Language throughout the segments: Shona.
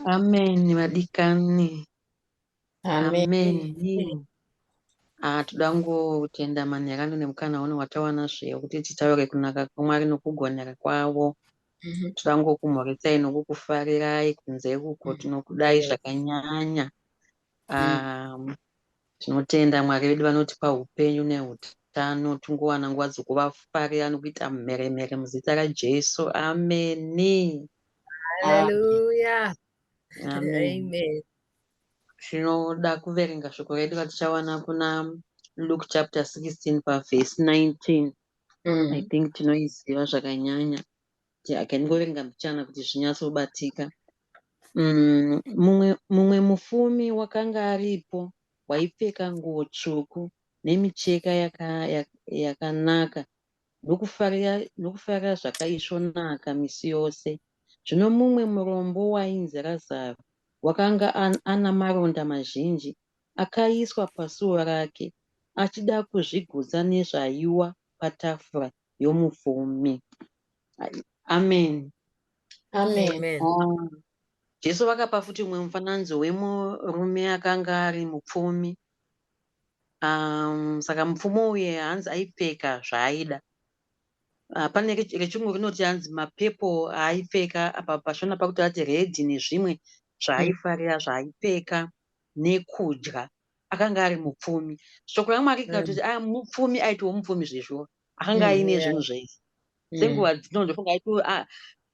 Amen vadikani. Amen. Amen. Amen. Ah, toda kutenda mani yakando nemukana uno watawana zve kuti titaure kunaka kwamwari nokugonera kwavo mm -hmm. toda ngokumhoresai nokukufarirai kunze kuko tinokudai zvakanyanya um, Tinotenda Mwari vedu vanotipa hupenyu nehutano tingowana nguva dzekuvafarira nekuita mheremhere muzita raJesu. Ameni. Hallelujah. Amen. Amen. Tinoda kuverenga shoko redu ratichawana kuna Luke chapter 16 paverse 19. I Mm. think tinoiziva zvakanyanya. yeah, can ngoverenga mbichana kuti zvinyatsobatika mm, mumwe, mumwe mufumi wakanga aripo waipfeka nguo tsvuku nemicheka yakanaka yaka ndokufarira zvakaisvonaka misi yose zvino mumwe murombo wainzi razaro wakanga an, ana maronda mazhinji akaiswa pasuo rake achida kuzvigutsa nezvaiwa patafura yomufumi. Amen. Amen. Amen. Ah, Jesu vakapa futi umwe mufananidzo wemurume akanga ari mupfumi. Um, saka mupfumi uye hanzi aipfeka zvaaida. Ah, pane rech- rechirungu rinoti hanzi mapepo aaipfeka apa pashona pakuti ati redhi nezvimwe zvaaifarira zvaaipfeka nekudya. akanga ari mupfumi shoko ramwe ake kana kuti ah, mupfumi aitiwo mupfumi zvezvo akanga aine zvinhu zvese senguva dzino ndofunga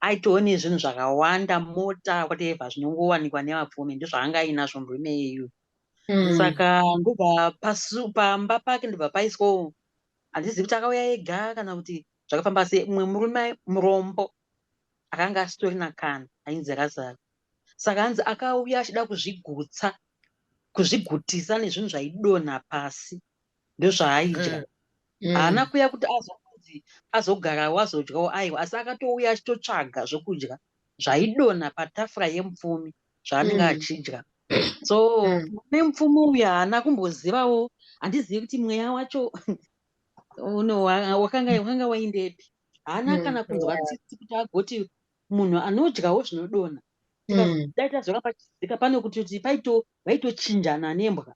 aitowo nezvinhu zvakawanda mota whatever zvinongowanikwa nevapfumi ndozvaanga ainazvo murume yeyu hmm. saka ndobva pamba pake ndobva paiswawo handizivi kuti akauya ega kana kuti zvakafamba se mumwe murume murombo akanga asitorina kana ainzi razaro saka hanzi akauya achida kuzvigutsa kuzvigutisa nezvinhu zvaidonha pasi ndozvaaidya mm. mm. haana mm. kuya kuti azonzi azogarawo azodyawo aiwa asi akatouya achitotsvaga zvokudya zvaidonha patafura yemupfumi zvaanenge mm. achidya so mm. nemupfumi uyu haana kumbozivawo handizivi kuti mweya wacho uno wakanga waindepi haana mm. kana kunzwa tsitsi kuti agoti munhu anodyawo zvinodonha mm. dai tazoramba tichidzika pane kuti kuti paito vaitochinjana nembwa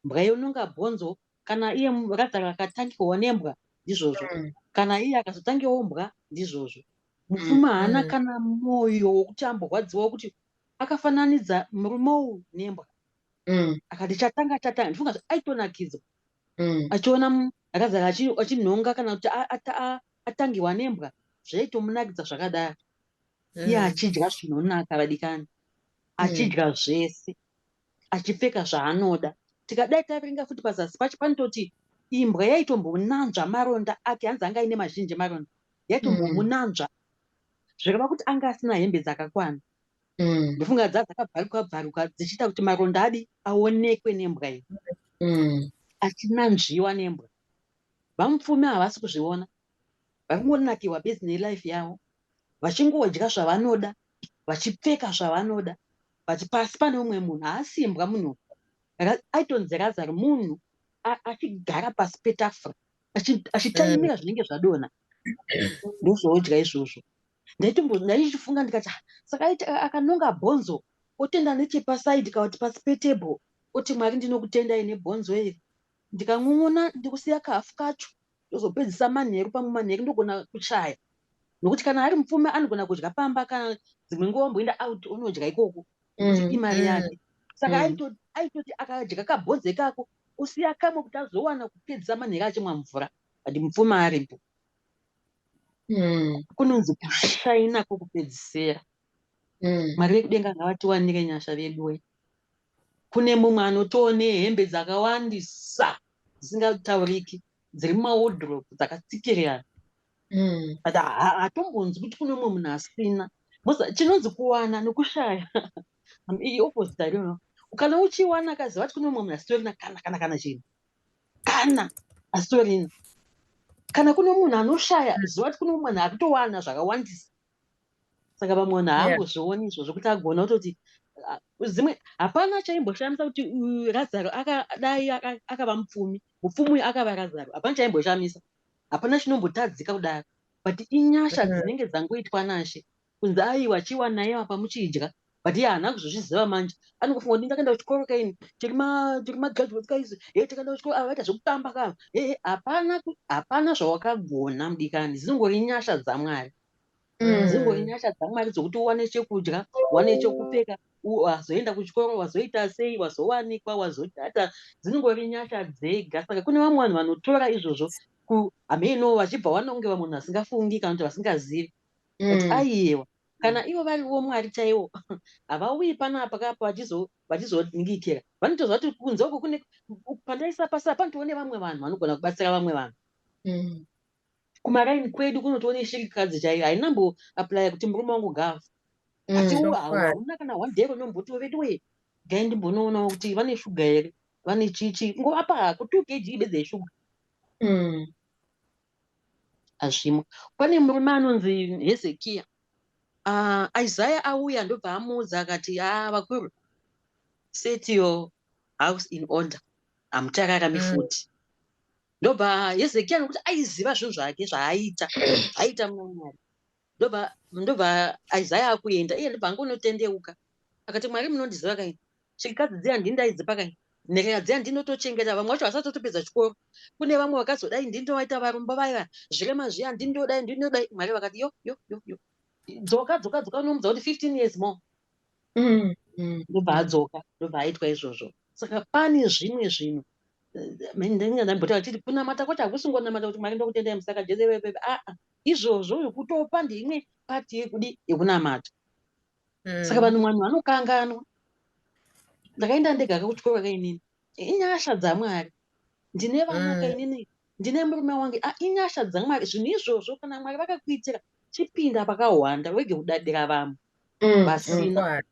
mbwa yononga bhonzo kana iye rakadhara akatangiwa nembwa ndizvozvo mm. kana iye akazotangiwa mbwa ndizvozvo mupfumi mm, haana mm. kana mwoyo wokuti amborwadziwa wokuti akafananidza murume uyu nembwa mm. akati chatanga chatanga ndifunga aitonakidzwa mm. achiona akazara achinhonga kana kuti atangirwa nembwa zvaitomunakidza zvakadaro mm. iye achidya zvinonaka vadikani mm. achidya mm. zvese achipfeka zvaanoda tikadai taverenga futi pazasi pacho panototi imbwa yaitombonanzva maronda ake hanzi anga aine mazhinji maronda yaitombomunanzva mm. zvireva kuti anga asina hembe dzakakwana Mm. ndofunga dza dzakabvaruka bvaruka dzichiita kuti maronda adi aonekwe nembwa iyi Mm. achinanzviwa nembwa vamupfumi havasi kuzviona vari kungonakiwa bezi nelife yavo vachingodya zvavanoda vachipfeka zvavanoda but pasi pane umwe munhu haasimbwa munhu uyu. Ra- aitonzi razaro munhu a- achigara pasi petafura achi- achitaimira zvinenge zvadonha ndozvaodya izvozvo ndaitombo ndaichifunga ndikati ah saka aiti a- akanonga bhonzo otenda nechepasaidi kana kuti pasi petable oti mwari ndinokutendai nebhonzo iri ndikan'on'ona ndikusiya kahafu kacho ndozopedzisa manheru pamwe manheru ndogona kuchaya nokuti kana ari mupfumi anogona kudya pamba kana dzimwe nguva omboenda out onodya ikoko nokuti Mm, imari mm, yake saka mm. aito- aitoti akadya kabhonzo ikako osiya kamwe kuti azowana kupedzisa manheru achimwa mvura but mupfumi aripo mm. kunonzi kushaina kwokupedzisera mm. mwari vekudenga ngavatiwanire nyasha veduwe kune mumwe anotiwo nehembe dzakawandisa dzisingatauriki dziri mumaodrop dzakatsikirirana mm. but hatombonzwi kuti kune umwe munhu asina chinonzi kuwana nokushaya iopposite ariona ukana uchiwana kazi vati kune umwe munhu asitorina kana kana kana chinhu kana asitorina kana kune munhu anoshaya aziva kuti kune mumwe munhu akutowana zvakawandisa saka vamwe vanhu haangozvioni izvo zvekuti agona kutoti zimwe hapana chaimboshamisa kuti uyu razaro akadai akava mupfumi mupfumi uyu akava razaro hapana chaimboshamisa hapana chinombotadzika kudaro but inyasha mm-hmm. dzinenge dzangoitwa nashe kunzi aiwa chiwanai apa muchidya but iye haana kuzozviziva manje anongofunga kuti ndakaenda kuchikoro kaini tiri magraduates kaisu he takaenda kuchikoro ava vaita zvekutamba kava hehe hapana hapana zvawakagona mudikani dzinongori nyasha dzamwari mm. dzingori nyasha dzamwari dzokuti uwane chekudya uwane chekupfeka wazoenda kuchikoro wazoita sei wazowanikwa wazodata dzinongori nyasha dzega saka kune vamwe vanhu vanotora izvozvo kuhameno vachibva vanonge vamwe vanhu vasingafungi kana kuti vasingazivi but mm. aiyewa kana ivo variwo mwari chaiwo havauyi panapa kapo vachizoningikira vanotoziva kuti kunze uko kune pandaisa pasa panotovo nevamwe vanhu vanogona kubatsira vamwe vanhu mm. kumaraini kwedu kunotovo neshirikadzi chaiyo hainambo aplya kuti murume wangu gava mm, asi u hauna kana one day vanombotiwo vedu wee gai ndimbonoonawo kuti vane shuga here vane chichi ngova pako two kg bedze yeshuga mm. Hazvimo. Pane murume anonzi Hezekiya. Uh, Isaya auya ndobva amuudza akati, ah, vakuru, set your house in order. Hamuchakarami mm. futi. Mm. Ndobva Hezekiya nokuti aiziva zvinhu zvake zvaaita, zvaaita muna Mwari. ndobva ndobva isaya akuenda iye ndobva angonotendeuka akati mwari munondiziva kaini chikadzi dziya ndini ndaidzipa kaini nherera dziya ndinotochengeta vamwe vacho vasati totopedza chikoro kune vamwe vakazodai ndini ndovaita varombo vaiva zvirema zviya ndini ndodai ndini ndodai mwari vakati yo yo yo yo dzoka dzoka dzoka unomudza kuti 15 years more mm, mm. ndobva mm. adzoka ndobva aitwa izvozvo saka pane zvimwe zvinhu eh, ndinga ndambota vachiti kunamata kwacho hakusingonamata kuti mwari ndokutendai musaka jese aa ah, ah. izvozvo zvekutopa ndeimwe pati yekudi yekunamata mm. saka vanhu vanhu vanokanganwa ndakaenda ndega ka kuchikoro ka inini inyasha dzamwari ndine vana ka mm. inini ndine murume wangu ah, inyasha dzamwari zvinhu izvozvo kana mwari vakakuitira chipinda pakahwanda wege kudadira vamwe mm, vasina mm,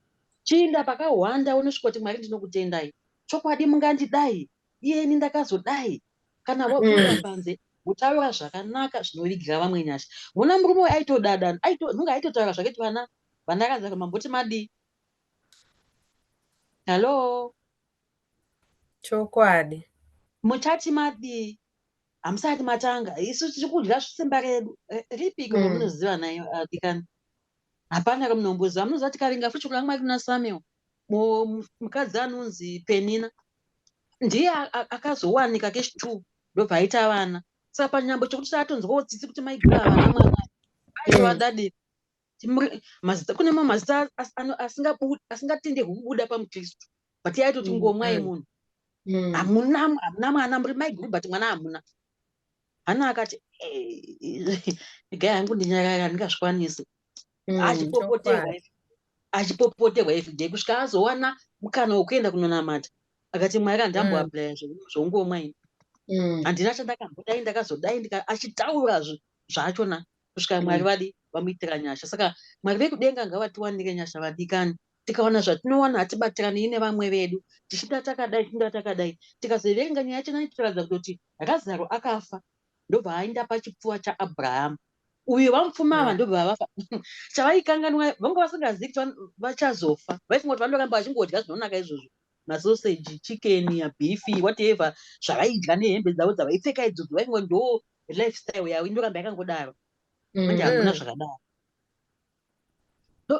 chiinda pakahwanda unosvika kuti mwari ndinokutendai chokwadi mungandidai iyeni ndakazodai kana wabuda mm. panze wotaura zvakanaka zvinovigira vamwe nyasha mona murume uyu aitodada nunge aitotaura zvaketi vana vandakanza kuti mamboti madii hallo chokwadi muchati madii hamusati matanga isu tiri kudya zvisimba redu eh, ripiko mm. romunoziva nayo adikani ah, hapana kamunomboziva anoziva tikaringa futi shoko ramwari kuna samuel mukadzi anonzi penina ndiye akazowanika kesh two ndobva aita vana saka panyambo chokuti taatonzwawo tsitsi kuti maigura vana mwana aivadadii kune mamwe mazita asingatendehwi kubuda pamukristu but yaitoti mm, ngomwa mm. yemunhu mm. hamuna hamuna mwana muri maiguru but mwana hamuna hana akati igai eh, hangu ndinyakaka ndingazvikwanisi achipopoterwa achipopoterwa everyday kusvika azowana mukana wekuenda kunonamata akati mwari kandamboaplaya zvongomwa ini handina chandakambodai ndakazodai achitaura zvachona kusvika mwari mm. vadi vamuitira nyasha saka mwari vekudenga ngavatiwanire nyasha vadikani tikawana zvatinowana hatibatirani nevamwe vedu tichida takadai tichida takadai tikazoverenga nyaya yacho nani tikaratidza kutoti razaro akafa ndobva aenda pachipfuva chaabrahama uyo vamupfuma ava ndobva vafa chavaikanganwa vanga vasingazivi kuti vachazofa vaifunga kuti vanoramba vachingodya zvinonaka izvozvo masoseji chikeni yabifi whatever zvavaidya nehembe dzavo dzavaipfeka idzodzo vaifunga ndo lifestyle yavo inoramba yakangodaro manje mm. hakuna zvakadaro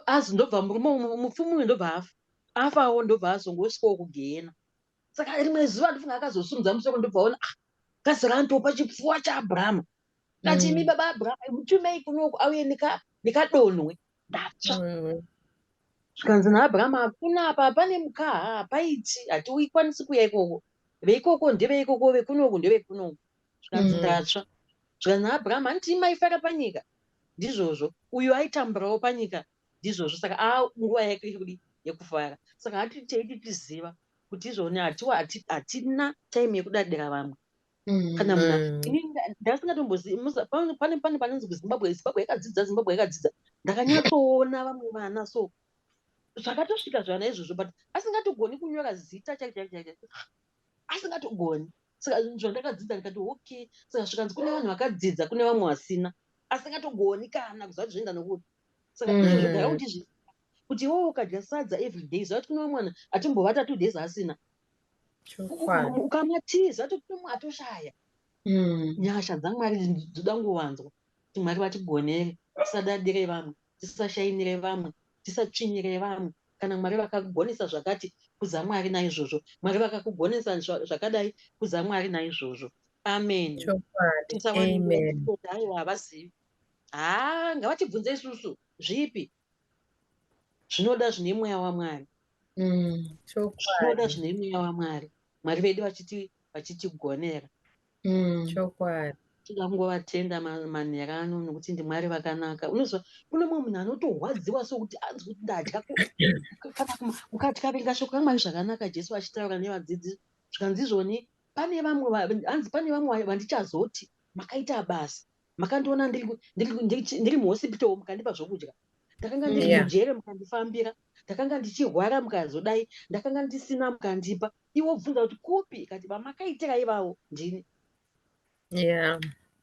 azi ndobva murume umwe mupfumi uyu ndobva afa afawo ndobva azongosvikawo kugehena saka rimwe zuva ndofunga akazosunudza musoro ndobva ona ah, kazi randopa chipfuwa chaabrahama kati mm. imi baba abrahama mutumei kunoku auye nekadonwe ndatsva mm. zvikanzi naabrahama hakuna apa pane mukaha hapaiti hatiikwanisi kuya ikoko veikoko ndeveikoko vekunoku ndevekunoku zvikanzi ndatsva mm. zvikanzi naabrahama handiti imaifara panyika ndizvozvo uyo aitamburawo panyika ndizvozvo saka a nguva yake kudi yekufara saka hati teiti tiziva kuti izvoni hatiwa hatina time yekudadira vamwe mm. kana muna mm. ini ndasingatomboziipane pane panonzi kuzimbabwe zimbabwe yakadzidza zimbabwe yakadzidza ndakanyatsoona vamwe vana so zvakatosvika zvana izvozvo but asingatogoni kunyora zita chaichaaicha asingatogoni saka zvinhu zvandakadzidza ndikati okay saka zvikanzi kune vanhu vakadzidza kune vamwe vasina asingatogoni kana kuziva kuti zvoenda nokuti saka mm. izvozvogara kuti izvi kuti iwewe ukadya sadza every day ziva kuti kune vamwe vanhu atimbovata two days asina ukamatiza tokuma atoshaya mm. nyasha dzamwari dzoda ngovanzwa Kuti Mwari vatigonere, tisadadire vamwe, tisashainire vamwe, tisatsvinyire vamwe. Kana Mwari vakakugonesa zvakati, kudza Mwari naizvozvo. Mwari vakakugonesa zvakadai, kudza Mwari naizvozvo. Amen. Chokwadi. Tisawanirira Amen. kutenda aiwa havazivi. Haa ngavatibvunze isusu zvipi zvinoda zvine mweya wamwari mm, zvinoda zvine mweya wamwari mwari vedu vachiti vachitigonera mm. chokwadi tinoda kungovatenda manhera ano nokuti ndimwari vakanaka unoziva kune mumwe munhu anotorwadziwa sokuti anzi kuti ndadya kana ukatyavenga shoko ramwari zvakanaka jesu vachitaura nevadzidzi zvikanzi izvoni pane vamwe hanzi pane vamwe vandichazoti makaita basa makandiona ndiri muhosipitoro mukandipa zvokudya ndakanga ndiri mujere mukandifambira ndakanga ndichirwara mukazodai ndakanga ndisina mukandipa iwo bvunza kuti kupi kati vamakaitira ivavo ndini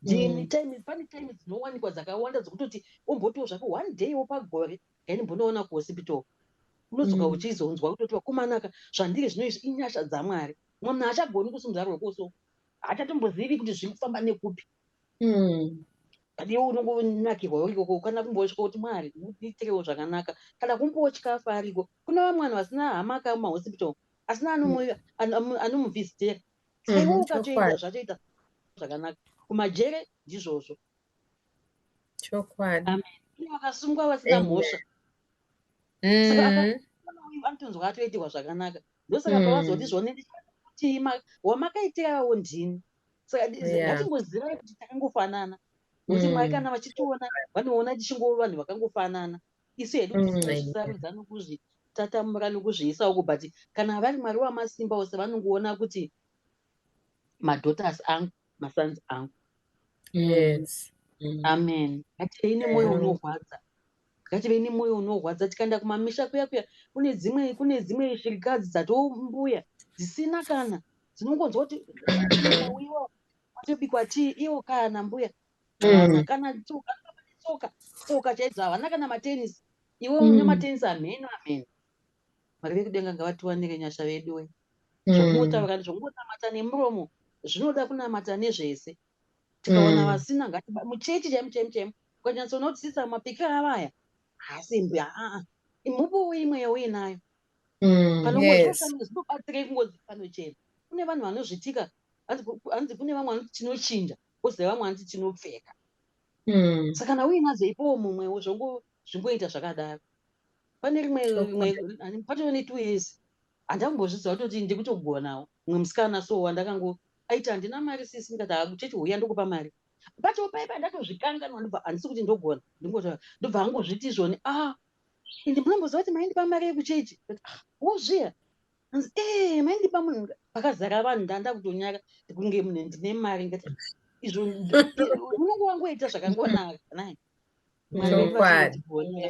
ndini mm. time pane time dzinowanikwa dzakawanda dzokutoti umbotiwo zvako one day wo pagore yaindimbonoona kuhosipitoro unodzoka mm. uchizonzwa kutoti vakomanaka zvandiri zvino izvi inyasha dzamwari mwana achagoni kusimudza rwekuso hachatombozivi kuti zviri kufamba nekupi mm. pane unongonakirwawo ikoko kana kumbotya kuti mwari muitirewo zvakanaka kana kumbotya afa ariko kuna vamwe vanhu vasina hama kaa mumahospital asina anomuvhistera saiwo mm-hmm. ukatoita zvatoita zvakanaka kumajere ndizvozvo chokwadi vakasungwa vasina mhosva mm-hmm. anotonzwa atoitirwa zvakanaka ndosaka mm. pavazoti zvonendikuti wamakaitirawo ndini saka ngatingozivai kuti takangofanana kuti mm. mwari kana vachitiona vanoona tichingova vanhu vakangofanana isu hedu mm, tisarudza nokuzvi tatamura nokuzviisa uku but kana vari mwari wamasimba ose vanongoona kuti madotas angu masons angu yes mm. amen hatei nemwoyo unorwadza Ngative nemoyo unorwadza tikaenda kumamisha kuya kuya kune dzimwe kune dzimwe shirikadzi dzatombuya dzisina kana dzinongonzwa kuti uiwa atobikwa tii iwo kana mbuya mm. kana tsoka tsoka tsoka chaidzo havana kana matenisi iwe une mm. matenisi amheno amheno mwari vekudenga ngavatiwanire nyasha veduwe mm. zvokungotaura zvokungonamata nemuromo zvinoda kunamata nezvese tikawana mm. vasina ngati muchechi chaimo chaimo chaimo ukanyatsonotisisa mapika avaya haasi mbi aa imhupo uimwe yauinayo mm, panobatsira kungozi panochena kune vanhu vanozvitika hanzi kune vamwe vanoti tinochinja koziva vamwe vanoti tinopfeka mm. saka kana uinadzo ipowo mumwewo zvongoita zvakadaro pane rimwe rimwe patove ne two years handambozviziva kutoti ndikutogonawo mumwe musikana so wandakango Aiti handina mari sisi ndikati haa kuchechi huya ndokupa mari. Pacho paipa ndatozvikanganwa ndobva handisi kuti ndogona ndingotaura ndobva angozviti izvoni ah ende munomboziva kuti maindipa mari yekuchechi ah, wozviya hanzi ee eh, maindipa munhu pakazara vanhu ndanda kutonyara kunge munhu ndine mari ngati izvo unenge wangoita zvakangonaka nai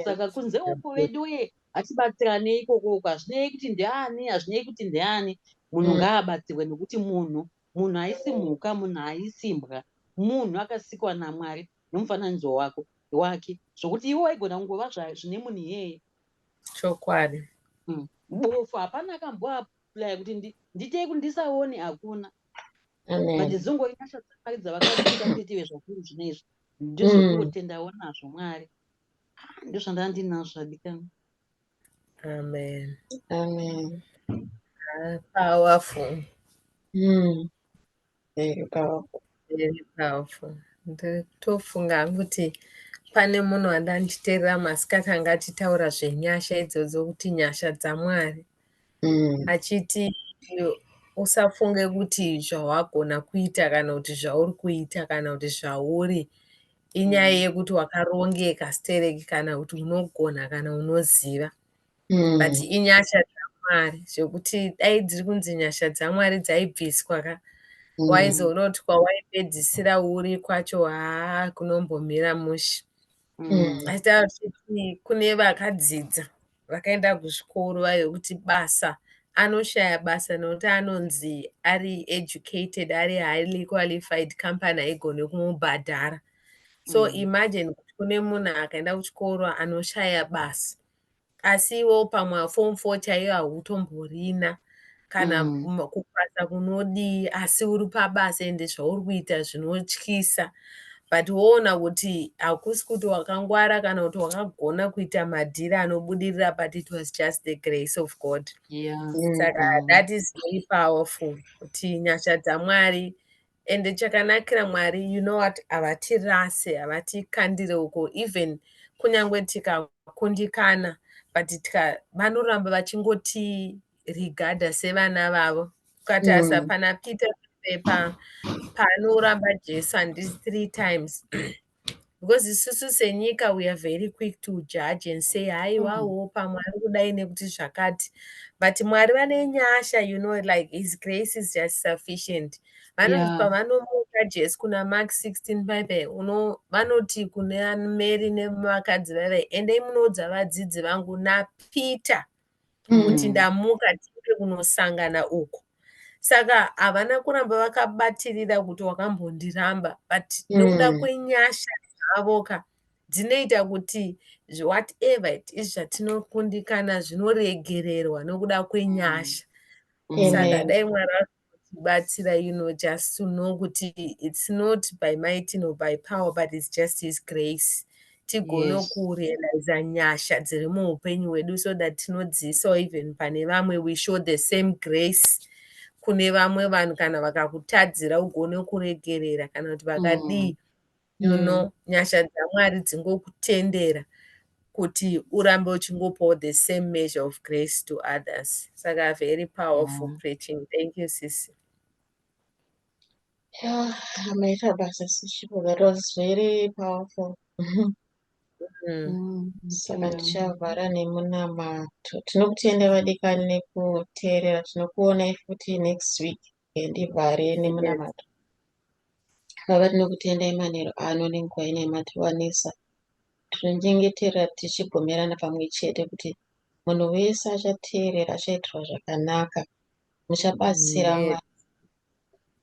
saka kunze uku veduye hatibatsirane ikoko uku hazvinei kuti ndeani hazvinei kuti ndeani munhu mm. ngaabatsirwe nekuti munhu munhu haisi mhuka munhu haisi mbwa munhu akasikwa namwari nomufananidzo wako wake zvokuti iwe waigona kungova zvine munhu iyeye chokwadi mm. bofu hapana kamboaplaya kuti nditei kuti ndisaone hakuna but dzingoinasha dzamari dzavakaita kuti ive zvakuru zvine izvi ndizvo mm. kungotendawo nazvo mwari ah, ndozvandaa ndinazvo adikana amen amen ah, powerful mm. very powerful very powerful ndotofunga kuti pane munhu andanditeerera masikati anga achitaura zvenyasha idzodzo kuti nyasha dzamwari mm. achiti usafunge kuti zvawagona kuita kana kuti zvauri kuita kana kuti zvauri inyaya mm. yekuti wakarongeka stereki kana kuti unogona kana unoziva mm. but inyasha dzamwari zvekuti dai dziri kunzi nyasha dzamwari dzaibviswa ka mm. waizoona kuti kwawaipedzisira uri kwacho haa kunombomira mushe mm. asi tavafiti kune vakadzidza vakaenda kuzvikoro vaive kuti basa anoshaya basa nokuti anonzi ari educated ari highly qualified company haigone kumubhadhara so mm. imagine kuti kune munhu akaenda kuchikoro anoshaya basa asi iwewo pamwe form four chaiyo hautomborina kana mm. kupasa kunodii asi uri pabasa ende zvauri kuita zvinotyisa but woona kuti hakusi kuti wakangwara kana kuti wakagona kuita madhiri anobudirira but it was just the grace of god yeah. saka mm. that is very powerful kuti nyasha dzamwari ende chakanakira mwari you know what havatirase havatikandire uko even kunyange tikakundikana but tika vanoramba vachingoti regarda sevana vavo ukati mm. asapana peter pepa paanoramba jesu handi three times because isusu senyika we are very quick to judge and say haiwawo mm. pamwe ari kudai nekuti zvakati but mwari vane nyasha you know like his grace is just sufficient vanoti pavanomuka yeah. jesu kuna mark 16 bible uno vanoti kune mary nevakadzi vave endai munoudza vadzidzi vangu napeter mm. kuti ndamuka tiende kunosangana uko saka havana kuramba vakabatirira kuti wakambondiramba but mm. nokuda mm. kwenyasha dzavo ka dzinoita kuti whatever it is zvatinokundikana zvinoregererwa nokuda kwenyasha mm. saka dai mwari batsira you know just to know kuti it's not by might nor by power but it's just his grace tigone yes. kurealiza nyasha dziri muupenyu hwedu so that tinodziisawo even pane vamwe we show the same grace kune vamwe vanhu kana vakakutadzira ugone kuregerera kana kuti vakadii mm. you mm. know nyasha dzamwari dzingokutendera kuti urambe uchingopawo the same measure of grace to others saka very powerful yeah. preaching thank you sisi yeah, amaita basa sisi that was very powerful mm. Mm, saka tichavhara nemunamato tinokutenda vadikani nekuteerera tinokuonai futi next week Ndivhare nemunamato. Baba tinokutendai manheru ano nenguva ino yamatiwanisa. Tinonyengetera tichibvumirana pamwe chete kuti munhu wese achateerera achaitirwa zvakanaka. Muchabatsira Amen. Mwari.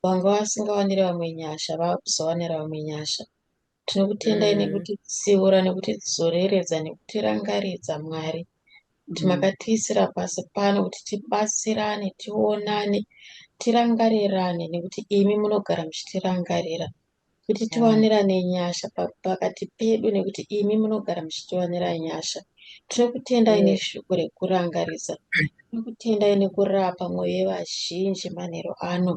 Vanga vasingawaniri vamwe nyasha, vakuzowanira vamwe nyasha. Tinokutendai Mm. nekutitsiura nekutidzoreredza nekutirangaridza Mwari kuti Mm. makatiisira pasi pano kuti tibatsirane tionane tirangarirane nekuti imi munogara muchitirangarira kuti Yeah. tiwanirane nyasha pa- pakati pedu nekuti imi munogara muchitiwanira nyasha tinokutendai Yeah. neshoko rekurangaridza tinokutendai nekurapa mwoyo yevazhinji manheru ano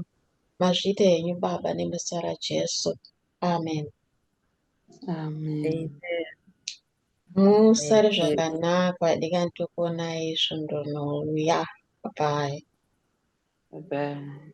mazvita henyu baba nemuzita rajesu Amen. Amen. Amen. Musare zvakanaka vadikani tokuonai svondo rinouya. Bye. Bye.